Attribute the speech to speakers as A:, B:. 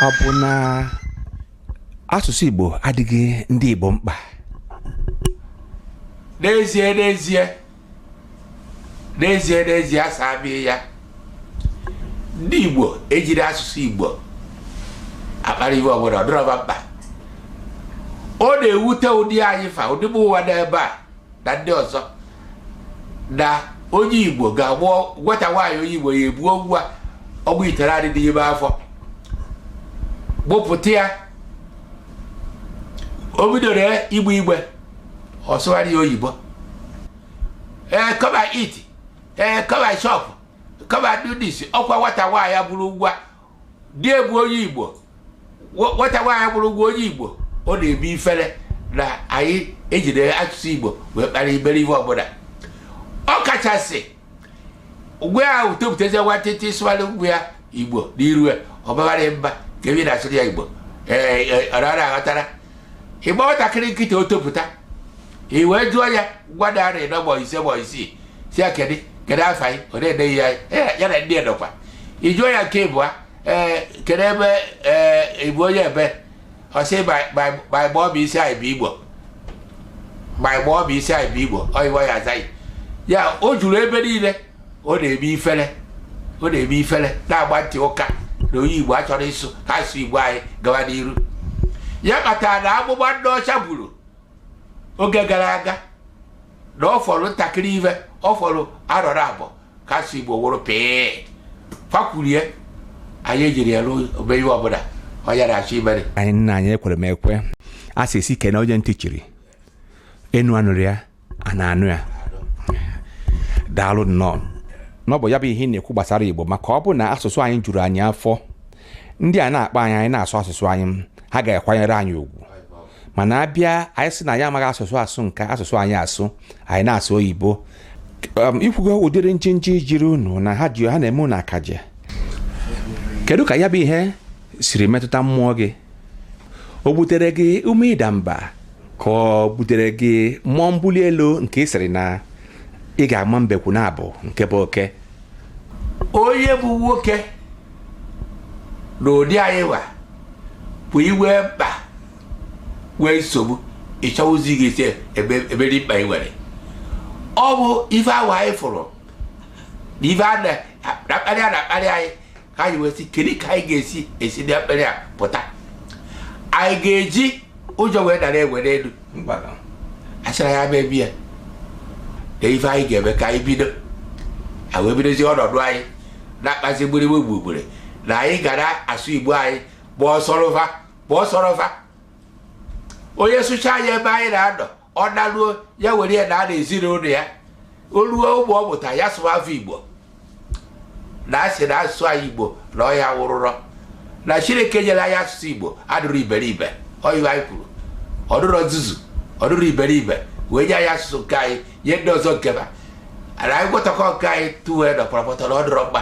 A: ọ bụ na asụsụ igbo adịghị ndị igbo mkpa
B: n'ezie n'ezie n'ezie n'ezie a saa bie ya ndị igbo ejiri asụsụ igbo akpara iwe ọbụla ọ dịrọ va mkpa ọ na-ewute ụdị anyị fa ụdị mụwa n'ebe a na ndị ọzọ na onye igbo ga-abụ nwata nwaanyị onye igbo ya ebuo nwa ọnwa itenaanị n'ime afọ mụpụta ya o bidoro igbe igbe ọ sụwara ya oyibo ee come and eat ee eh, come and chop come and do this ọkwa nwata nwaanyị mụrụ nwa di ya bụ onye igbo nwata nwaanyị bụrụ nwa onye igbo ọ na-eme ifere na anyị ejide asụsụ igbo wee kpara iberibe ọbụla ọ kachasị nwa ahụ topụtazie nwantịntị ị sụwara nwa ya igbo n'iru ya ọ bawara mba ka ebi na-asụrụ ya igbo ee eh, eh, ọ na-aghọtara ị mụọ nwatakịrị kịta o topụta i wee jụọ ya nwata arọ ịnọ ma ọ bụ ise ma ọ bụ isii sị ya kedu kedu afa gị ọ na-ene gị anya "Eh, ya na ndị edokwa i jụọ ya nke ịbụa ee kedu ebe ee ị bụ onye ebee ọ sị my mummy sị anyị bụ igbo my mummy sị anyị bụ igbo onwe ya azaghị ya o juru ebe niile ọ na-eme ifere ọ na-eme ifere na-agba ntị ụka na onye igbo achọrọ ịsụ ka asụ igbo anyị gawa n'iru ya kpatara na amụma ndị ọcha buru oge gara aga na ọ fọrọ ntakịrị ive ọ fọrọ arọ na abụọ ka asụ igbo nwụrụ pịị fa kwuru ya anyị ejiri ya na-eme ihe ọbụla ọ ya na-achọ imere anyị nna anyị ekwere m
A: ekwe a sị esi kene onye ntị chiri enu anụrọ ya ana anụ ya daalụ nnọọ na ọ bụ ya bụ ihe ị na-ekwu gbasara igbo maka ọ bụ na asụsụ anyị juru anyị afọ ndị a na-akparị anyị anyị na-asụ asụsụ anyị ha ga-akwanyere anyị ugwu mana a bịa anyị sị na anyị amaghị asụsụ asụ nke asụsụ anyị asụ anyị na-asụ oyibo um, i kwugo ụdịrị njinji jiri unu na ha ji ha na-eme unu akaje kedu ka ya bụ ihe siri metụta mmụọ gị o butere gị ume ịda mba ka o butere gị mmụọ mbuli elu nke ị sịrị na ị ga-ama mbekwu naabọ nke bụ oke
B: onye bụ nwoke na ụdị anyị wa bụ i nwee mkpa nwee nsogbu ị chọwazi gị isi ebe ebe dị mkpa i nwere ọ bụ ife ahụ anyị fụrụ na ife a na-akparị a na-akparị anyị ka anyị wee sị kedu ka anyị ga-esi esi na mkparị a pụta anyị ga-eji ụjọ wee dara enwe n'elu a sị ra ya mebi ya na ife anyị ga-eme ka anyị bido anyị wee bidozie ọnọdụ anyị na-akpazi gbirigbe gburugburu na anyị gara asụ igbo anyị kpọọ sọrọva kpọọ sọrọva onye sụchaa ya ebe anyị na-anọ ọ naruo ya were ya naa n'ezinụlọ ya o ruo ụbọ ọ mụta ya sụwa afọ igbo na asị na asụsụ anyị igbo na ọ ya wụrụrọ na chineke nyere anyị asụsụ igbo adụrọ iberibe onyenwe anyị kwuru ọ dụrọ nzuzu ọ dụrọ iberibe wee nye anyị asụsụ nke anyị nye ndị ọzọ nke ha na anyị gwọtakọ nke anyị tuwe na pọtọpọtọ na ọ dịrọ mma